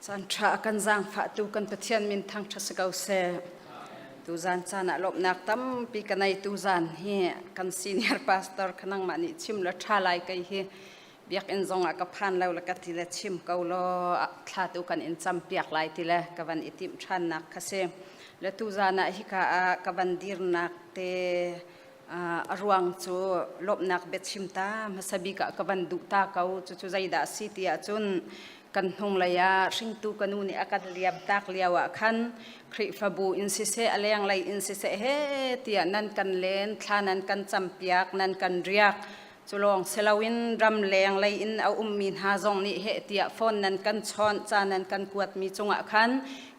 Canṭha a kan zaangfahtu kan Pathian min thangṭhat si ko seh. Tuzan caan ah lawmhnak tampi ka neitu zan hi kan senior pastor kha nangmah nih chim le ṭha lai kei hi biakinn zong ah ka phan lo le ka ti le chim ko law thla tu kan in campiak lai ti le ka van i timh ṭhannak kha si. Le tuzan ah hika ah ka van dirnak te uh, a ruang cu lawmhnak biachim ta hmasa bik ah ka van duh ta ko cucu zeidah a si ti ahcun kan hnunglei ah hringtu ka nu nih a kan liam tak lio ah khan Khrihfabu in siseh a lenglei in siseh he tiah nan kan len thla nan kan campiak nan kan riak cu lawng si loin ram leng lei in a ummi hna zong nih heh tiah phone nan kan chawnh ca nan kan kuatmi cungah khan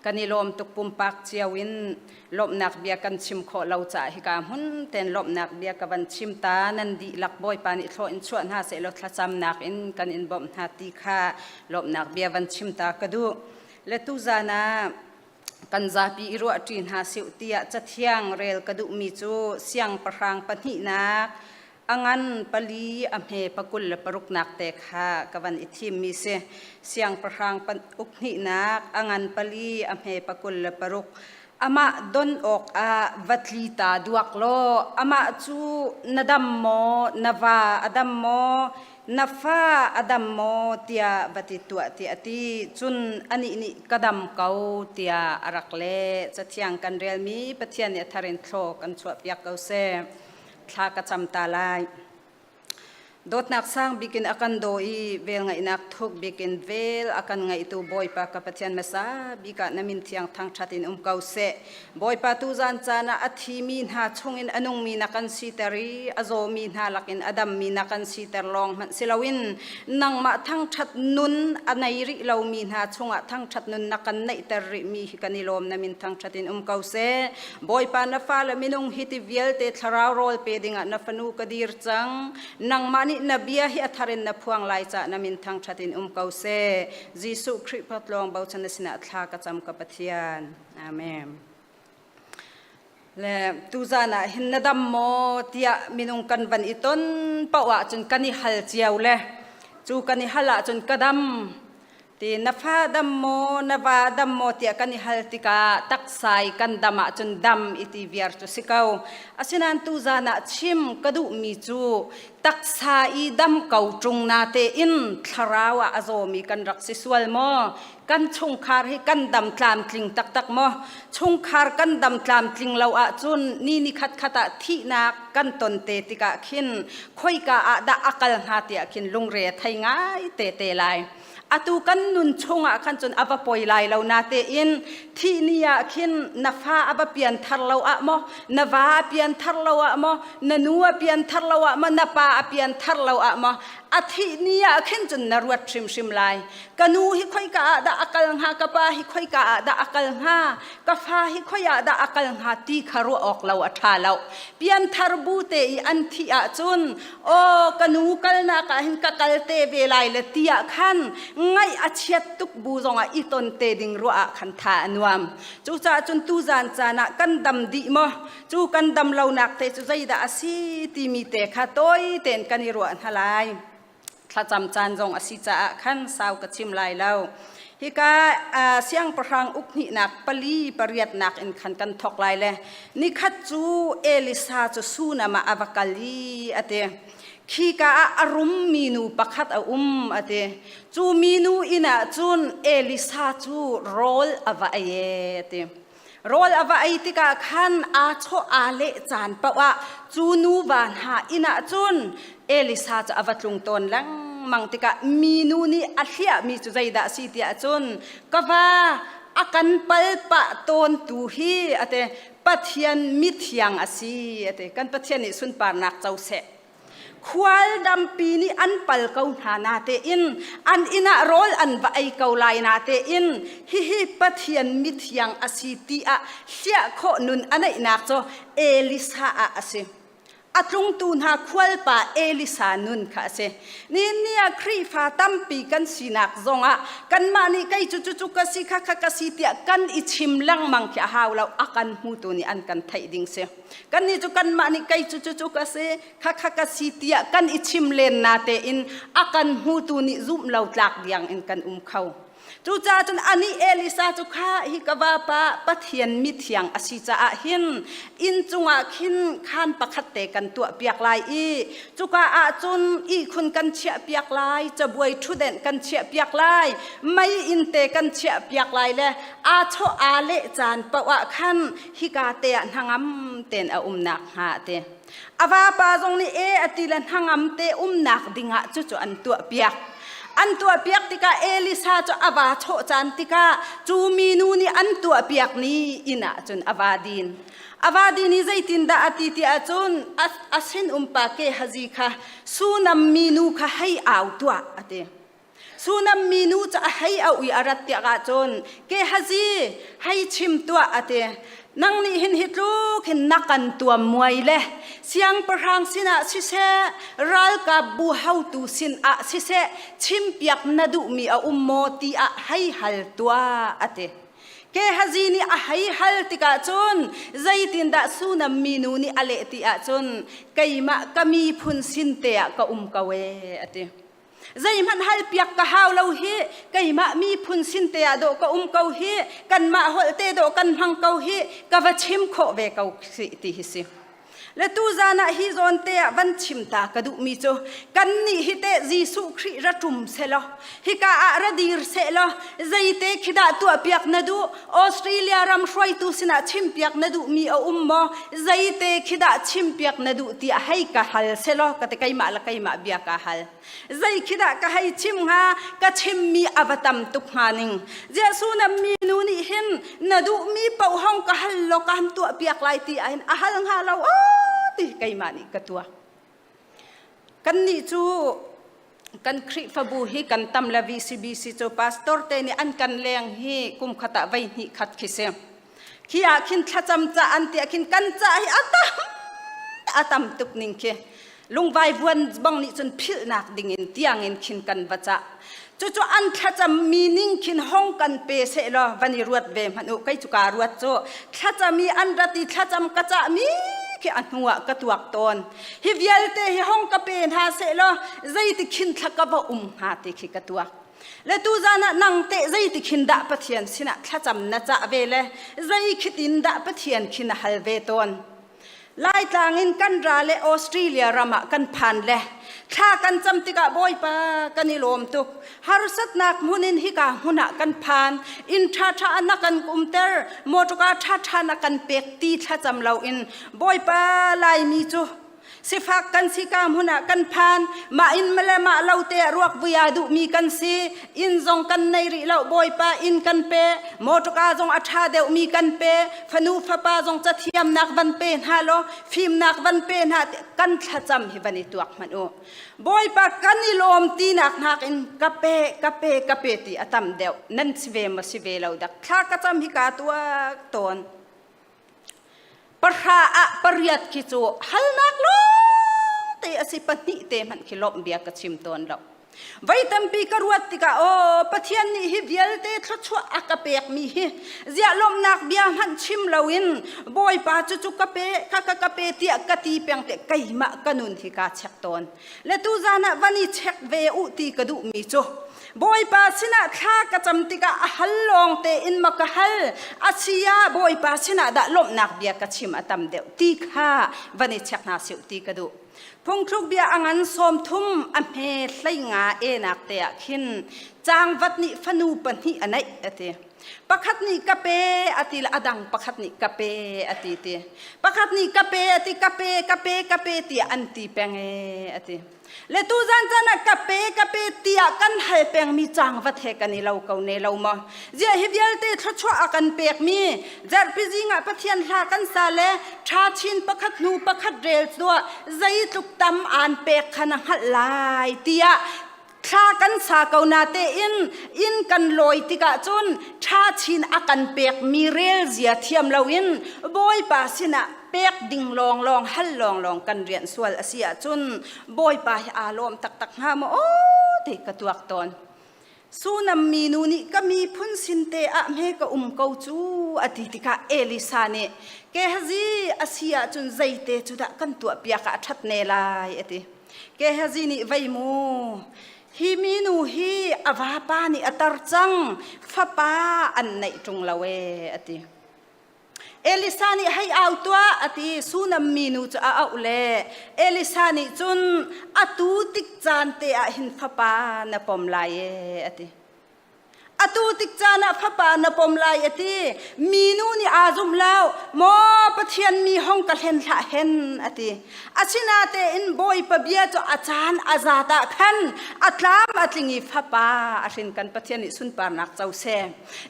kan i lawm tuk pumpak cio in lawmhnak bia kan chim khawh lo caah hika hmun tein lawmhnak bia ka van chim ta nan dihlak Bawipa nih thlawh in chuah hna sehlaw thlacamnak in kan in bawmh hna ti kha lawmhnak bia van chim ta ka duh le tuzan ah kan zapi i ruahṭi hna sih tiah cathiang rel ka duhmi cu siangpahrang pahnihnak a ngan pali a hme pakul le paruknak te kha ka van i thimmi si siangpahrang uk hnihnak a ngan pali a hme pakul le paruk amah don awk ah va tli ta duak law amah cu na dam maw na va a dam maw na fa a dam maw tiah va ti tuah ti a ti cun anih nih ka dam ko tiah a rak leh cathiang kan relmi pathian nih a thar in thlo kan chuahpiak ko seh thla ka cam ta lai dawtnak sang bikin a kan do i vel ngaihnak thuk bikin vel a kan ngaihtu bawipa ka pathian masa bika na min thiang thang that in um ko se bawipa tu zan caan ah a thi mi hna chungin a nung mi na kan si ter i a zaw mi hna lakin a dam mi na kan si ter lawng hmanh siloin nangmah thang that nun a nei ri lo mi hna chungah thang that nun na kan neih ter ri mi hi kan i lawm na min thang that in um ko se Bawipa na fale minung hi ti vialte thlarau rawl pe dingah na fanu ka dir cang. Nangmah nih na bia hi a thar in na phuang lai cah na min thangṭhat in um ko seh. Jesuh Khrih phawtlawng bochan na sinah thla ka cam ka Pathian. Amen. Le tuzan ah hin na dam maw tiah minung kan van i ton paoh ahcun kan i hal cio le cu kan i hal ahcun ka dam ti na fa dam maw na va dam maw tiah kan i hal tikah taksa i kan dam ahcun dam i ti viar cu si ko asinain tu zan ah chim ka duhmi cu taksa i dam ko ṭung na tein thlarau ah a zawmi kan rak si sual maw kan chungkhar hi kan dam tlamtling taktak maw chungkhar kan dam tlamtling lo ahcun ni ni khat khat ah thihnak kan ton te tikah khin khoika ah dah a kal hnga tiah khin lungre thei ngai te te lai atu kan nun chungah khan cun a va poi lai lo na tein thih ni ah khin na fa a va pian thar lo ah maw na va a pian thar lo ah maw na nu a pian thar lo ah maw na pa a pian thar lo ah maw a thih ni ah khin cun na ruat hrimhrim lai ka nu hi khoika ah dah a kal hnga ka pa hi khoika ah dah a kal hnga ka fa hi khoiah dah a kal hnga ti kha ruah awk lo a ṭha lo pian thar bu te i an thih ahcun aw ka nu kalnak ah hin ka kal te ve lai le tiah khan ngaih a chiat tuk bu zongah i ton te ding ruah ah khan tha a nuam cucaah cun tu zan caan ah kan dam dih maw cu kan dam lonak te cu zeidah a si timi te kha tawi tein kan i ruah hna lai thlacam caan zong a si caah khan sau ka chim lai lo Hika siangpahrang ukhnihnak pali pariatnak in khan kan thawk lai le nikhat cu Elisa cu Sunam ah a va kal i a ti khika ah a rum minu pakhat a um a ti cu minu inn ah cun Elisa cu rawl a va ei a ti Rawl a va ei tikah khan aa chawh aa leh caan paoh ah cu nuva hna inn ah cun Elisa cu a va tlung tawn lengmang tikah minu nih a hliahmi cu zeidah a si tiah cun ka va a kan palpah tawntu hi a ti Pathian mithiang a si a ti kan Pathian nih sunparnak co seh Khual dampi nih an pal ko hna na tein an inn ah rawl an va ei ko lai na tein hihi Pathian mithiang a si tiah hliah khawh nun a neihnak cu Elisa ah a si. A tlungtu hna khualpa Elisa nun kha a si. Ninni ah Khrihfa tampi kan sinak zongah kanmah nih kei cu cu ka si kha kha ka si tiah kan i chim lengmang khi a hau lo a kan hmutu nih an kan theih ding si. kannih cu kanmah nih kei cu cu ka si khakha ka si tiah kan i chim len na tein a kan hmutu nih zumh lo tlak diang in kan um kho cucaah cun ani Elisa cu kha hi ka vapa Pathian mithiang a si caah hin inn cungah khin khan pakhat te kan tuah piak lai i cuka ah cun ihkhun kan chiah piak lai cabuai ṭhutdenh kan chiah piak lai mei in te kan chiah piak lai le aa chawh aa leh caan paoh ah khan hika te ah hnangam tein a umnak hnga te a vapa zong nih e a ti le hnangam te umnak dingah cu cu an tuah piak an tuah piak tikah Elisa cu a va chawh caan tikah cu minu nih an tuah piak ni inn ah cun a va din avadi ni zeitin dah a ti ti ahcun a sinum pa ke hazi kha sunam minu kha hei au tuah a ti Sunam minu cu a hei auh i a rat tiah ahcun ke hazi hei chim tuah a ti. Nang nih hin hi tluk hin na kan tuam muai le siangpahrang sinah siseh ralkapbu haotu sinah siseh chimpiak na duhmi a um maw ti ah hei hal tuah a ti. Ke hazi nih a hei hal tikah cun zeitindah Sunam minu nih a leh ti ahcun keimah ka miphun sin te ah ka um ko ee a ti. Zeihmanh hal piak ka hau lo hi keimah miphun sin te ah dawh ka um ko hi kanmah holte dawh kan hmang ko hi ka va chim khawh ve ko si ti hi si. Le tu zan ah hi zawn te ah van chim ta ka duh mi cu kan nih hi te Jesuh Khrih ra ṭum se law hika ah ra dir se law zeite khi dah tuah piak na duh Australia ram hruaitu sinah chimpiak na duhmi a um maw? Zeite khi dah chimpiak na duh tiah hei ka hal selaw ka te keimah le keimah bia ka hal. Zei khi dah ka hei chim hnga? Ka chimmi a va tam tuk hnga ning. Jesuh na minu nih hin na duhmi pohong ka hal law ka han tuahpiak lai ti ahhin a hal hnga lo, aw ti keimah nih ka tuah. Kannih cu kan Khrihfabu hi kan tam le VCBC cu pastor te nih an kan leng hi kum khat ah voi hnih khat khi si. Khi ah khin thlacam ca an tiah khin kan ca hi a tam a tam tuk ning khi lungvai vuan bong nih cun philhnak ding in tiang in khin kan va cah. Cucu an thlacam mi ning khin hong kan pe seh law van i ruat ve hmanh u kei cu kaa ruat cu thlacam i an rat i thlacam ka cah mi khi a hnu ah ka tuak tawn hi vialte hi hong ka pe hna seh law zeiti khin thla ka va um hnga ti khi ka tuak le tu zan ah nang te zeiti khin dah pathian sinah thlacam na cah ve le zei khitin dah pathian khin a hal ve tawn Laitlang in kan ra le Australia ram ah kan phan le thla kan cam tikah Bawipa kan i lawm tuk harsatnak hmun in hika hmun ah kan phan inn ṭha ṭha na kan kumter motorka ṭha ṭha na kan pek ti thlacam lo in Bawipa Laimi cu sifak kan si ka hmun ah kan phan mah in male mah lo te ah ruak vuia duhmi kan si inn zong kan nei rih lo bawipa inn kan pe motorka zong a ṭha deuhmi kan pe fanu fapa zong cathiamnak van pe hna law fimnak van pe hna kan thlacam hi van i tuak hmanh u bawipa kan i lawm tinak nakin ka pe ka pe ka pe ti a tam deuh nan si ve ma si ve lo dak thla ka cam hi ka tuak tawn Pahra ah pariat khi cu halnak lawng te a si pahnih te hmanh khi lawmh bia ka chim tawn lo. Vai tampi ka ruat tikah aw Pathian nih hi vialte thluachuah a ka pekmi hi ziah lawmhnak bia hmanh chim loin Bawipa cu cu ka pe kha ka ka pe tiah ka ti peng te keimah ka nun hi kaa chek tawn. le tuzan ah van i check ve u ti ka duhmi cu bawipa sinah thla ka cam tikah a hal lawng tein ma ka hal asia bawipa sinah dah lawmhnak bia ka chim a tam deuh ti kha van i check hna si ti ka duh phungthluk bia a ngan sawm thum a hme hleinga enak te ah khin cangvat nih fanu pahnih a neih a ti pakhat nih ka pe a ti a dang pakhat nih ka pe a ti ti pakhat nih ka pe a ti ka pe ka pe ka pe tiah an ti peng e a ti le tu zan chan ah ka pe ka pe tiah kan hal pengmi cang vat he kan i lo ko ne lo mo zia hi vialte thluachuah a kan pek mi zarhpi zingah pathian hla kan sa le tha chin pakhat nu pakhat rel tuah zeitluk tam aan pek khana hngalh lai tiah thla kan sa ko na tein inn kan lawi tikah cun tha chin a kan pekmi rel zia thiam loin bawipa sinah pek ding lawnglawng hal lawnglawng kan rian sual a si ahcun bawipa hi aa lawm taktak hnga maw aw ti ka tuak tawn sunam mi nu nih ka miphun sinte ah hme ka um ko cu a ti tikah Elisa nih ke hazi a si ahcun zeite cu dah kan tuah piak ah a ṭhat ne lai a ti Gehazi nih vei mu hi minu hi a vapa nih a tar cang fapa an neih ṭung lo e a ti Elisa nih hei au tuah a ti Sunam minu cu a auh le Elisa nih cun atu tik caan te ah hin fapa na pom lai e a ti Atu tik caan ah fapa na pom lai a ti. Minu nih aa zumh lo. Maw Pathian mi hong ka hlen hlah hen a ti. Asina tein Bawipa bia cu a caan a zat ah khan a tlam a tling i fapa a hrin kan Pathian nih sunparnak co seh.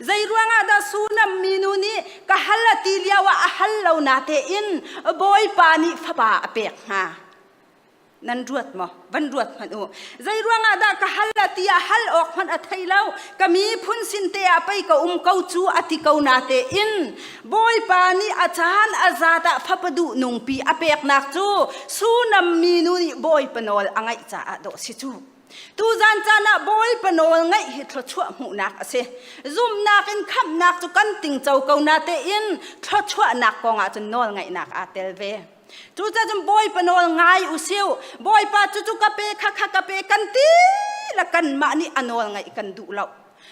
Zei ruangah dah Sunam minu nih ka hal a ti lio ah a hal lo na tein Bawipa nih fapa a pek hnga? nan ruat maw van ruat hmanh u zei ruangah dah ka hal a ti ah hal awk hmanh a thei lo ka miphun sin te ah pei ka um ko cu a ti ko na te in bawipa nih a caan a zat ah phapadu nungpi a peknak cu sunam mi nu nih bawipa nawl a ngaih caah dawh si cu tu zan caan ah bawipa nawl ngaih hi thluachuah hmuhnak a si zumnak in khamhnak cu kan tingco ko na te in thluachuahnak kong ah cun nawl ngaihnak aa tel ve Cucacun Bawipa nawl ngai usih. Bawipa cucu ka pe khakha ka pe kan ti la kanmah nih a nawl ngaih kan duh lo.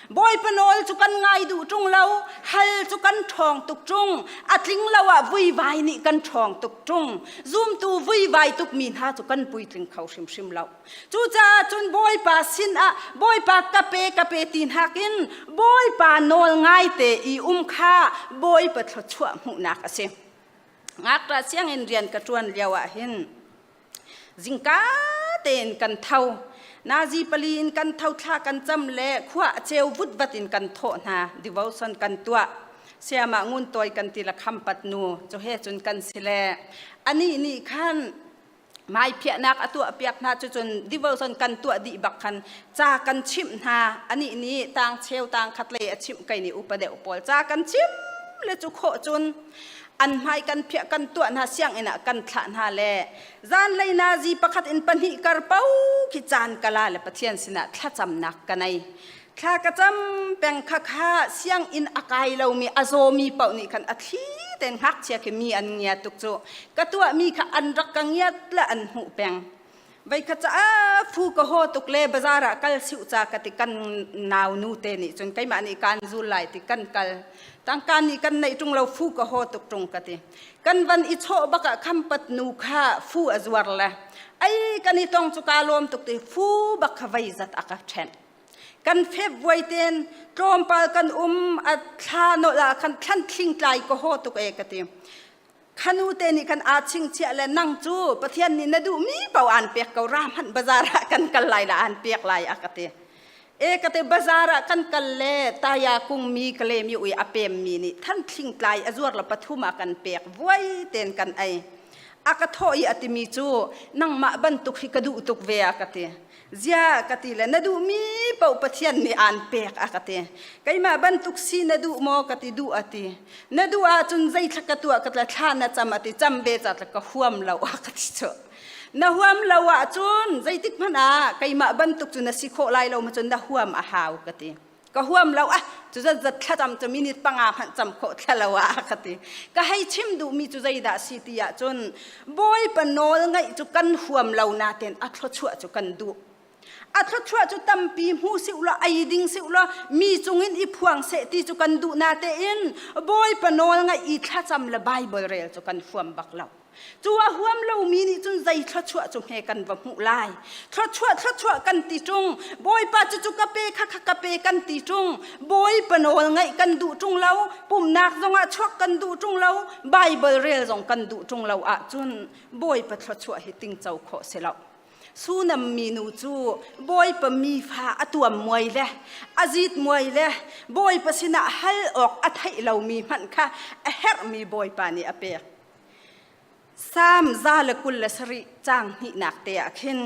Bawipa nawl cu kan ngai duh ṭung lo, hal cu kan ṭhawng tuk ṭung, a tling lo ah vuivai nih kan ṭhawng tuk ṭung. Zumtu vuivai tukmi hna cu kan puitling kho hrimhrim lo. Cucaah cun Bawipa sinah Bawipa ka pe ka pe ti nakin Bawipa nawl ngaite i um kha Bawipa thluachuah hmuhnak a si. ngakṭah sianginn rian ka ṭuan lio ahhin zingka tein kan tho nazi pali in kan tho thla kan cam le khua a ceu vutvat in kan thawh hna devotion kan tuah siamah ngun tuai kan ti la kham pat nu cu he cun kan si le anih nih khan mai phiahnak a tuah piak hna cu cun devotion kan tuah dih bak khan ca kan chimh hna ani nih tang cheu tang khat le a chimh kai ni upa deuh pawl ca kan chimh le cu khawh cun an hmai kan phiah kan tuah hna sianginn ah kan thlah hna le zan lei na zi pakhat in pahnih kar po khi caan kala le pathian sinah thlacamnak ka nei thla ka cam peng kha kha sianginn a kai lomi a zawmi paoh nih khan a thli ten ngakchia khi mi an ngia tuk cu ka tuahmi kha an rak ka ngiat le an hmuh peng vei kha ca phu ka ho tuk le bazar ah kal siu ca ka ti kan nau nu te nih cun keimah nih kan zul lai ti kan kal tangkan nih kan nei tung lo fu ka ho tuk tung ka ti kan van i chawh bak ah khampat nu kha fu a zuar le ai kan i tong cu ka lawm tuk ti fu bak kha vei zat aka ṭhen kan february ten tlawmpal kan um a thla no la khan thlan thling tlai ko ho tuk e ka ti khanu te nih khan a ching chiah le nang cu pathian nih na duh mi pau aan pek ko ra hmanh bazar ah kan kal lai la aan pek lai a ka ti e ka te bazar ah kan kal le taya kung mi kle mi ui a pem mi nih than thling tlai a zuar la pathum a kan pek vuai ten kan ai a ka tho i atimi cu nangmah bantuk hi ka duh tuk ve a ka ti Ziah ka ti le na duhmi paoh Pathian nih aan pek a ka ti. Keimah bantuk si na duh maw ka ti duh a ti. Na duh ahcun zeitlak ka tuah ka tla thla na cam a ti cam ve ca ka huam lo a ka ti cu. Na huam lo ahcun zeitik hmanh ah keimah bantuk cu na si khawh lai lo ma cun na huam a hau ka ti. ka huam lo ah cu zatzat thlacam cu minute panga hmanh cam khawh thlalo ah ka ti ka hei chim duhmi cu zeidah si ti ahcun bawipa nawl ngaih cu kan huam lo natein a thluachuah cu kan duh a thluachuah cu tampi hmu si ulaw ei ding si ulaw mi cungin i phuang seh ti cu kan duh natein bawipa nawl ngaih i thlacam le bible rel cu kan huam bak lo Cu a huam lomi nih cun zei thluachuah cu hme kan va hmuh lai. Thluachuah thluachuah kan ti ṭung. Bawipa cucu ka pe kha kha ka pe kan ti ṭung. Bawipa nawl ngaih kan duh ṭung lo. Pumhnak zongah chuak kan duh ṭung lo. Baibal rel zong kan duh ṭung lo ahcun Bawipa thluachuah hi tingco khawh si lo. Sunam minu cu Bawipa mi fa a tuam muai le a zit muai le Bawipa sinah hal awk a theih lomi hmanh kha a herhmi Bawipa nih a pek. Salm za le kul le sarih cang hnihnak te ah khin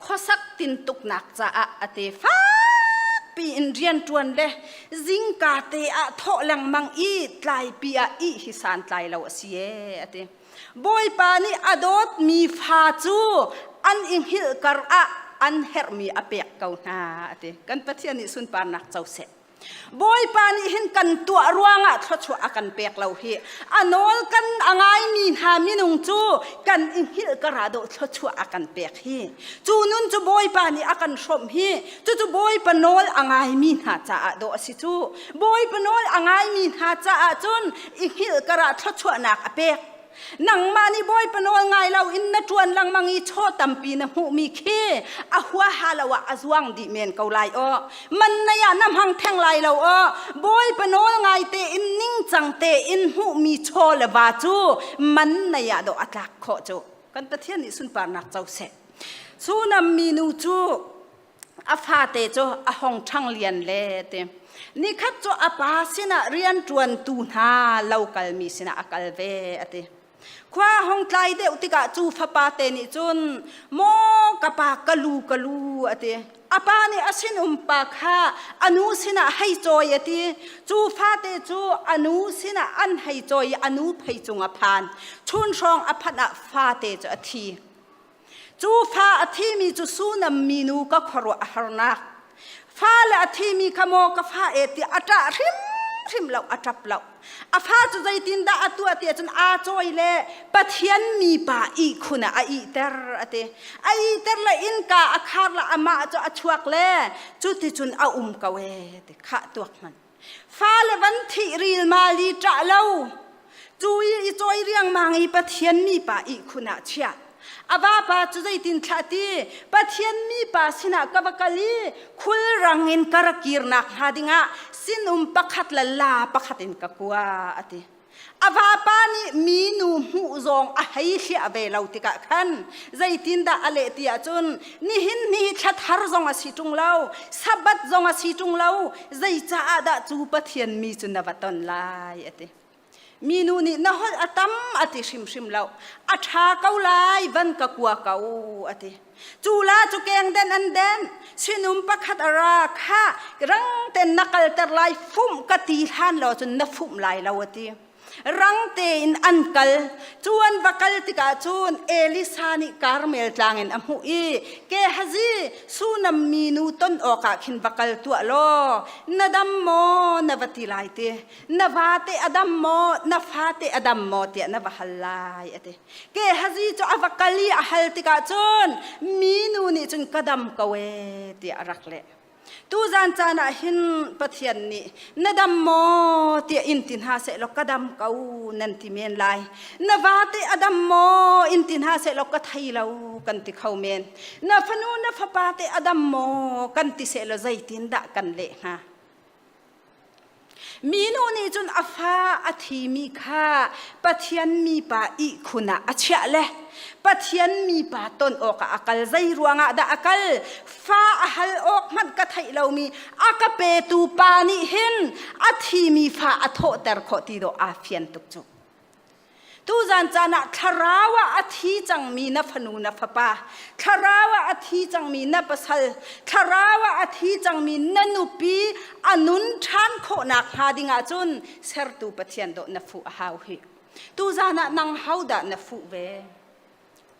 khuasak tintuknak caah a te fakpi in rian ṭuan le zingka te ah thawh lengmang i tlaipi ah ih hi santlai lo a si ee a ti. Bawipa nih a dawtmi fa cu an i hngilh kar ah an herhmi a pek ko hna a ti. Kan Pathian nih sunparnak co seh. Bawipa nih hin kan tuah ruangah thluachuah a kan pek lo hi a nawl kan a ngaimi hna minung cu kan i hngilh ka ra dawh thluachuah a kan pek hi cu nun cu Bawipa nih a kan hrawmh hi cucu Bawipa nawl a ngaimi hna caah dawh a si cu Bawipa nawl a ngaimi hna caah cun i hngilh ka ra thluachuahnak a pek nangmah nih bawipa nawl ngai lo in na ṭuan lengmang i chaw tampi na hmuhmi khi a huaha lo ah a zuang dih men ko lai aw mannei ah na hmang theng lai lo aw bawipa nawl ngai tein ningcang tein hmuhmi chaw le va cu mannei ah dawh a tlak khawh cu kan pathian nih sunparnak co seh sunam minu cu a fate cu a hong ṭhang lian le ti nikhat cu a pa sinah rian ṭuantu hna lo kalmi sinah a kal ve a ti khua hong tlai deuh tikah cu fapa te nih cun maw ka pa ka lu ka lu a ti a pa nih a sinum pa kha a nu sinah hei cawi a ti cu fate cu a nu sinah an hei cawi i a nu phei cung a phan chun hrawng a phanh ah fate cu a thi Cu fa a thimi cu Sunam minu ka khuaruah a harnak. Fa le a thimi kha maw ka fa e tiah a ṭah hrimhrim lo, a ṭap lo. A fa cu zeitindah a tuah tiah cun aa cawi le Pathian mipa ihkhun ah a ihter a ti. A ihter le innka a khar le amah cu a chuak le cuticun a um ko ee ti khah tuak hmanh. Fale van thih ril mali ṭah lo. Cu i cawi riangmang i Pathian mipa ihkhun ah chiah. A vapa cu zeitin thlah ti Pathian mipa sinah ka va kal i khulrang in ka ra kirnak hnga dingah sinum pakhat le la pakhat in ka kua a ti. A vapa nih minu hmuh zong a hei hliah ve lo tikah khan zeitindah a leh ti ahcun nihin ni thla thar zong a si ṭung lo sabbath zong a si ṭung lo zeicaah dah cu Pathian mi cu na va ton lai a ti minu nih na holh a tam a ti hrimhrim lo a ṭha ko lai van ka kua ko a ti Cula cu kengden an den. Sinum pakhat a ra kha rang ten na kalter lai fum ka ti hlan lo cun na fum lai lo a ti. Rang tein an kal. Cuan va kal tikah cun Elisa nih Karmel tlang in a hmuh i Gehazi sunam minu ton awkah khin va kal tuah law na dam maw na va ti lai ti na vate a dam maw na fate a dam maw tiah na va hal lai a ti. Gehazi cu a va kal i a hal tikah cun minu nih cun ka dam ko ee tiah a rak leh. Tu zan caan ah hin Pathian nih na dam maw tiah in ti hna sehlaw ka dam ko nan ti men lai. Na vate a dam maw in ti hna sehlaw ka thei lo kan ti kho men. Na fanu na fapa te a dam maw kan ti sehlaw zeitin dah kan leh hnga? Minu nih cun a fa a thimi kha Pathian mipa ihkhun ah a chiah le Pathian mipa ton awkah a kal. Zei ruangah dah a kal? Fa a hal awk hmanh ka theih lomi a ka petu pa nih hin a thimi fa a thawhter khawh ti dawh aa fian tuk cu. Tuzan caan ah thlarau ah a thi cangmi na fanu na fapa, thlarau ah a thi cangmi na pasal, thlarau ah a thi cangmi na nupi a nun ṭhan khawh nakhnga ding ahcun Sertu Pathian dawh na fuh a hau hi. Tuzan ah nang hodah na fuh ve?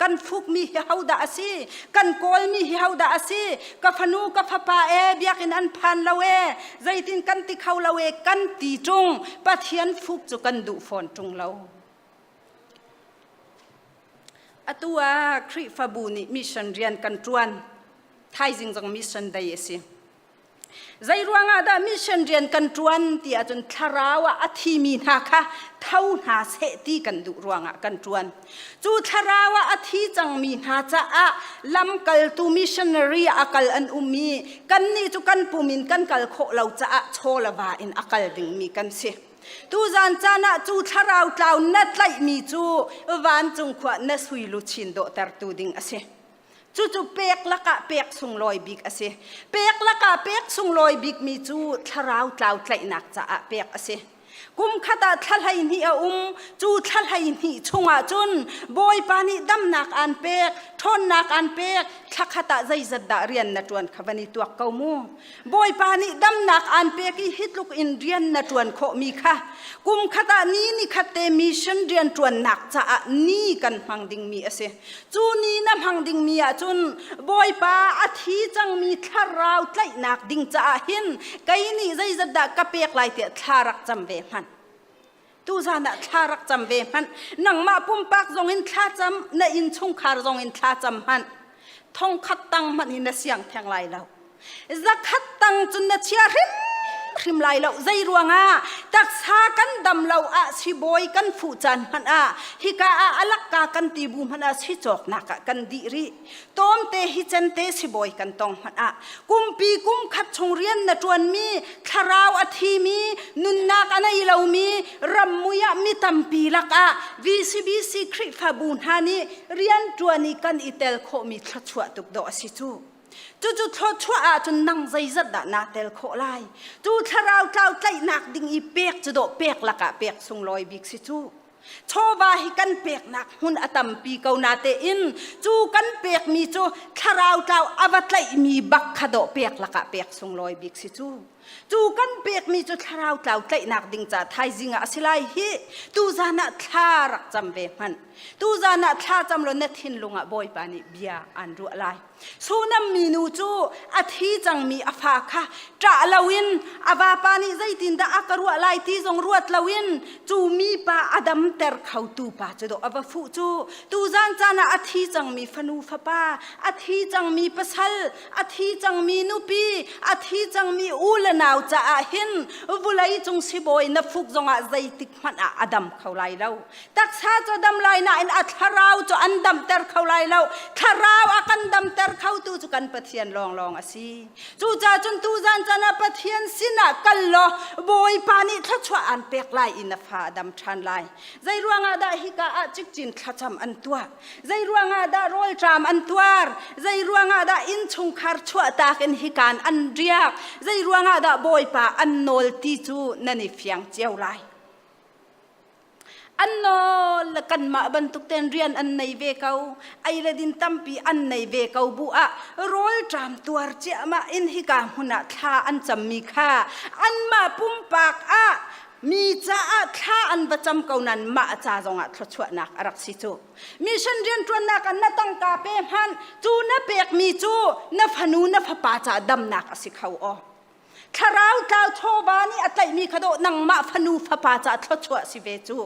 kan fukmi hi hodah a si kan kawlmi hi hodah a si ka fanu ka fapa e biakin an phan lo e zeitin kan ti kho lo e kan ti chung pathian fuk cu kan duh fawn tung lo atu ah khrihfabu nih mission rian kan tuan thaizing zong mission day a si Zeiruangah dah mission rian kan ṭuan ti ahcun thlarau ah a thimi hna kha tho hna seh ti kan duh ruangah kan ṭuan. Cu thlarau ah a thi cangmi hna caah lamkaltu missionary ah a kal an um i kannih cu kan pum in kan kal khawh lo caah chawlava in a kal dingmi kan si. Tuzan caan ah cu thlarau tlau na tlaihmi cu vancung khua na sui luchin dawhtertu ding a si. Cucu pek lakah pek sunglawi bik a si. Pek lakah pek sunglawi bikmi cu thlarau tlau tlaihnak caah pek a si. Kum khat ah thla hleihnih a um. Cu thla hleihnih chungah cun Bawipa nih damnak aan pek, ṭhawnnak aan pek, thla khat ah zeizat dah rian na ṭuan kha van i tuak ko mu. Bawipa nih damnak aan pek i hitluk in rian na ṭuan khawhmi kha kum khat ah ni ni khat te mission rian ṭuannak caah ni kan hmang dingmi a si. Cu ni na hmang dingmi ahcun Bawipa a thi cangmi thlarau tlaihnak ding caah hin kei nih zeizat dah ka pek lai tiah thla rak cam ve hmanh. tuzan ah thla rak cam ve hmanh nangmah pumpak zong in thla cam na innchungkhar zong in thla cam hmanh thongkhat tang hmanh in na siang theng lai lo zakhat tang cun na chia hrim hrim lai lo zei ruangah taksa kan dam lo ah sibawi kan fuh caan hmanh ah hika ah alakka kan ti bu hmanh ah si cawknak ah kan di rih Tomte hi cente sibawi kan tong hmanh ah kumpi kum khat chung rian na ṭuanmi thlarau a thimi nunnak a nei lomi rammui ah mi tampi lakah VCBC Khrihfabu hna nih rian ṭuan i kan i tel khawhmi thluachuah tuk dawh a si cu. Cucu thluachuah ahcun nang zeizat dah naa tel khawh lai? Cu thlarau tlau tlaihnak ding i pek cu dawh pek lakah pek sunglawi bik si cu. chawva hi kan peknak hmun a tampi ko natein cu kan pekmi cu thlarau tlau a va tlaihmi bak kha dawh pek lakah pek sunglawi bik si cu cu kan pekmi cu thlarau tlau tlaihnak ding ca thaizing ah a si lai hi tu zan ah thla rak cam ve hmanh tu zan ah thla cam lo na thinlung ah bawipa nih bia aan ruah lai Sunam minu cu a thi cangmi a fa kha ṭah loin a vapa nih zeitindah a ka ruah lai ti zong ruat loin cu mipa a damter khotu pa cu dawh a va fuh cu tuzan caan ah a thi cangmi fanu fapa a thi cangmi pasal a thi cangmi nupi a thi cangmi u le nau caah hin vulei cung sibawi na fuk zongah zeitik hmanh ah a dam kho lai lo taksa cu dam lai nain a thlarau cu an damter kho lai lo thlarau a kan damter khotu cu kan pathian lawnglawng a si cucaah cun tu zan chan ah pathian sinah kal law bawipa nih thluachuah aan pek lai i na fa a dam ṭhan lai zei ruangah dah hika ah cikcin thlacam an tuah zei ruangah dah rawlṭam an tuar zei ruangah dah innchungkhar chuahtak in hikaan an riak zei ruangah dah bawipa an nawl ti cu nan i fiang cio lai an nawl le kanmah bantuk ten rian an nei ve ko ai le din tampi an nei ve ko bu ah rol ṭam tuar ciahmah in hika hmun ah thla an cammi kha anmah pumpak ah mi caah thla an va cam ko nan mah ca zong ah thluachuahnak a rak si cu mission rianṭuannak an na tangka pe hman cu na pekmi cu na fanu na fapa ca damnak a si kho aw Thlarau tlau chawva nih a tlaihmi kha dawh nangmah fanu fapa caah thluachuah si ve cu.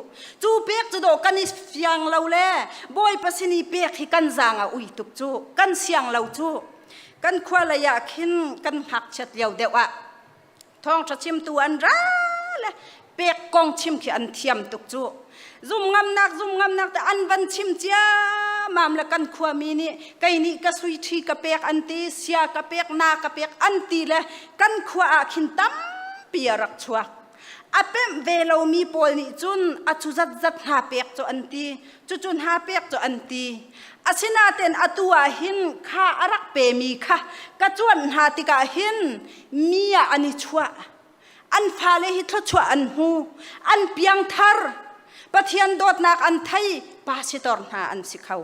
Cu pek cu dawh kan i fiang lo le Bawipa sin i pek hi kan zaang a ui tuk cu. Kan siang lo cu. Kan khua lei ah khin kan hngakchiat lio deuh ah thawngṭha chimtu an ra le pek kong chim khi an thiam tuk cu zum ngamnak zum ngamnak te an van chim ciamam le kan khuami nih kei nih ka sui ṭhi ka pek an ti sia ka pek na ka pek an ti le kan khua ah khin tampi a rak chuak a pemh ve lomi pawl nih cun a cu zat zat hna pek cu an ti cucu hna pek cu an ti asinaten atu ah hin kha a rak pemi kha ka cuanh hna tikah hin mi ah an i chuah an fale hi thluachuah an hmu an piangthar pathian dawtnak an thei pa si tor hna an si kho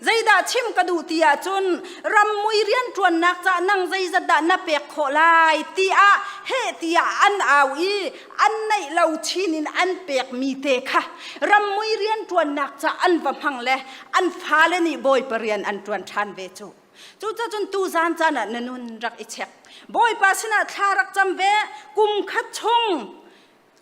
zeidah chim ka duh ti ahcun rammui rianṭuannak cah nang zeizat dah na pek khawh lai tiah he tiah an au i an neih lo chin in an pekmi te kha rammui rianṭuannak cah an va hmang le an fale nih bawi parian an ṭuan ṭhan ve cu Cucacun tuzan caan ah na nun rak i chek. Bawipa sinah thla rak cam ve. Kum khat chung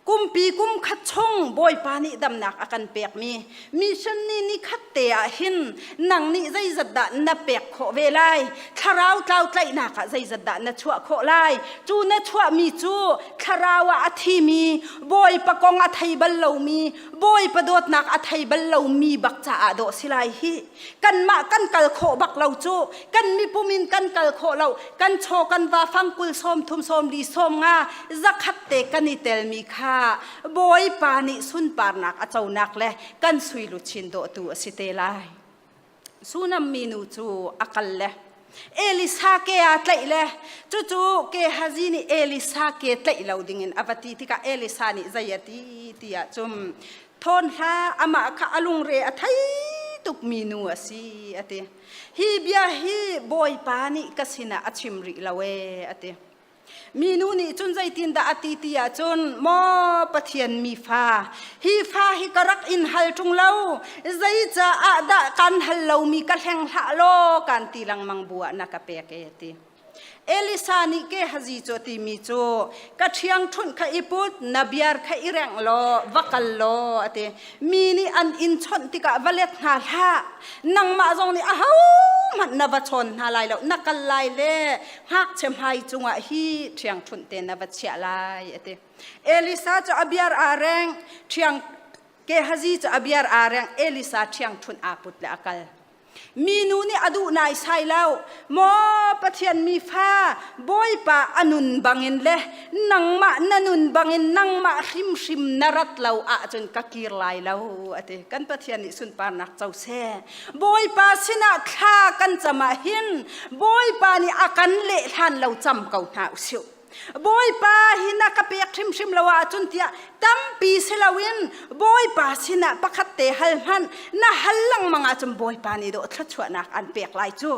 kumpi kum khat chung Bawipa nih damnak a kan pekmi mission ni ni khat te ah hin nang nih zeizat dah na pek khawh ve lai thlarau tlau tlaihnak ah zeizat dah na chuah khawh lai cu na chuahmi cu thlarau ah a thimi bawipa kong a thei bal lomi bawipa dawtnak a thei bal lomi bak caah dawh si lai hih kanmah kan kal khawh bak lo cu kan mipum in kan kal khawh lo kan chaw kan va fang kul sawm thum sawm li sawm nga zakhat te kan i telmi kha bawipa nih sunparnak a conak le kan sui luchin dawhtu a si te lai sunam minu cu a kal le Elisa ke a tlaih le cucu Gehazi nih Elisa ke tlaih lo dingin a va ti tikah Elisa nih zei a ti tiah cun thawn hlah amah kha a lungre a thei tukmi nu a si a ti hi bia hi bawipa nih ka sinah a chim rih lo ee a ti Minu nih cun zeitindah a ti ti ahcun maw Pathian mi fa hi fa hi ka rak in hal ṭung lo zeicaah dah kan hal lomi ka hleng hlah law kan ti lengmang bu ah na ka pek e ti Elisa nih ke hazi cu timi cu ka ṭhiangṭhunh kha i put na biar kha i rengh law va kal law a ti mi nih an in chawnh tikah va let hna hlah nangmah zong nih ahohmanh na va chawn hna lai lo na kal lai le ngakchia hmai cungah hi ṭhiangṭhunh te na va chiah lai a ti elisa cu a biar aa reng ṭhiang gehazi cu a biar aa reng elisa ṭhiangṭhunh aa put le a kal minu nih a duh nai sai lo maw pathian mi fa bawipa a nun bangin le nangmah na nun bangin nangmah hrimhrim na rat lo ahcun ka kir lai lo a ti kan pathian nih sunparnak co seh Bawipa sinah thla kan cam ah hin Bawipa nih a kan leh hlan lo cam ko hna usih. Bawipa hi na ka pek hrimhrim lo ahcun tiah tampi si loin Bawipa sinah pakhat te hal hmanh na hal lengmang ahcun Bawipa nih dawh thluachuahnak an pek lai cu.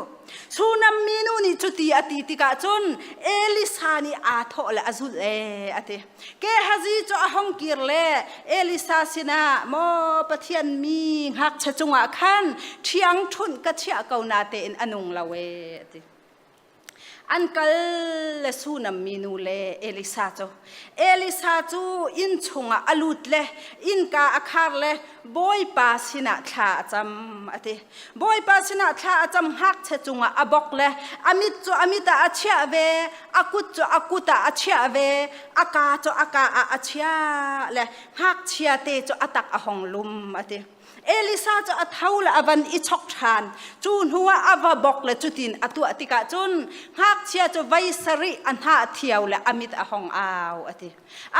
Sunam minu nih cuti a ti tikah cun Elisa nih aa thawh le a zulh ee a ti. Gehazi cu a hong kir le Elisa sinah maw Pathian mi ngakchia cungah khan ṭhiang ṭhunh ka chiah ko na tein a nung lo ee a ti. An kal le Sunam minu le Elisa cu Elisa cu inn chungah a lut le innka a khar le Bawipa sinah thla a cam a ti. Bawipa sinah thla a cam ngakchia cungah a bok le a mit cu a mit ah a chiah ve, a kut cu a kut ah a chiah ve, a ka cu a ka ah a chiah le ngakchia te cu a tak a hong lum a ti. Elisa cu a tho le a van i chok ṭhan. Cu hnu ah a va bok le cutin a tuah tikah cun ngakchia cu voi sarih a hna a thio le a mit a hong au a ti.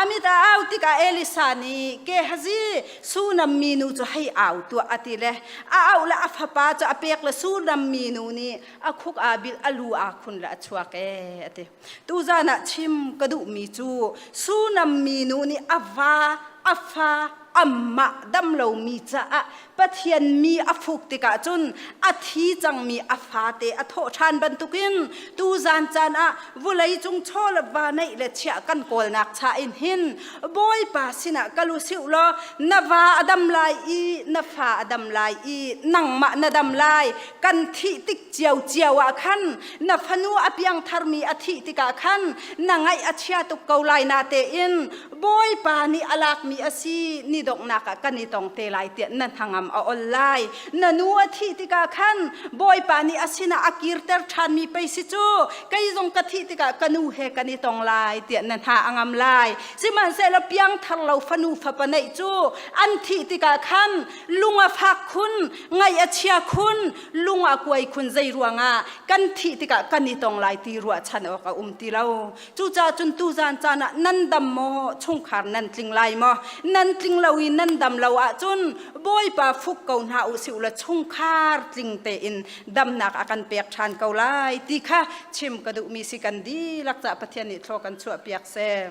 amit a au tikah Elisa nih Gehazi sunam minu cu hei au tuah a ti le a au la a fapa cu a pek le sunam minu nih a khuk a bil a lu a khun la a chuak e a ti tu zan ah chim ka duh mi cu sunam minu nih a va a fa amma dam lo mi caah Pathian mi a fuk tikah cun a thi cangmi a fate a thawh ṭhan bantukin tuzan caan ah vawleicung chaw le va neih le chiah kan kawlnak cha in hin Bawipa sinah kal u sih law na va a dam lai i na fa a dam lai i nangmah na dam lai kan thih tik cio cio ah khan na fanu a piangtharmi a thih tikah khan na ngaih a chia tuk ko lai na tein Bawipa nih a lakmi a si ni donghnak ah kan i tong te lai tiah na hnangam a ol lai. Na nu a thih tikah khan Bawipa nih a sinah a kirter ṭhanmi peisi cu kei zong ka thih tikah ka nu he kan i tong lai tiah na hna a ngam lai. Sihmanhsehlaw piangthar lo fanu fapa neih cu an thih tikah khan lung a fak khun, ngaih a chia khun, lung a kuai khun, zei ruangah kan thih tikah kan i tong lai ti ruahchan awk a um ti lo. Cucaah cun tuzan caan ah nan dam maw chungkhar nan tling lai maw nan tling lo i nan dam lo ahcun bawipa fuk ko hna u si ula chungkhar tling tein damnak a kan pek ṭhan ko lai ti kha chim ka duhmi si kan dihlak cah Pathian nih thlo kan chuahpiak seh.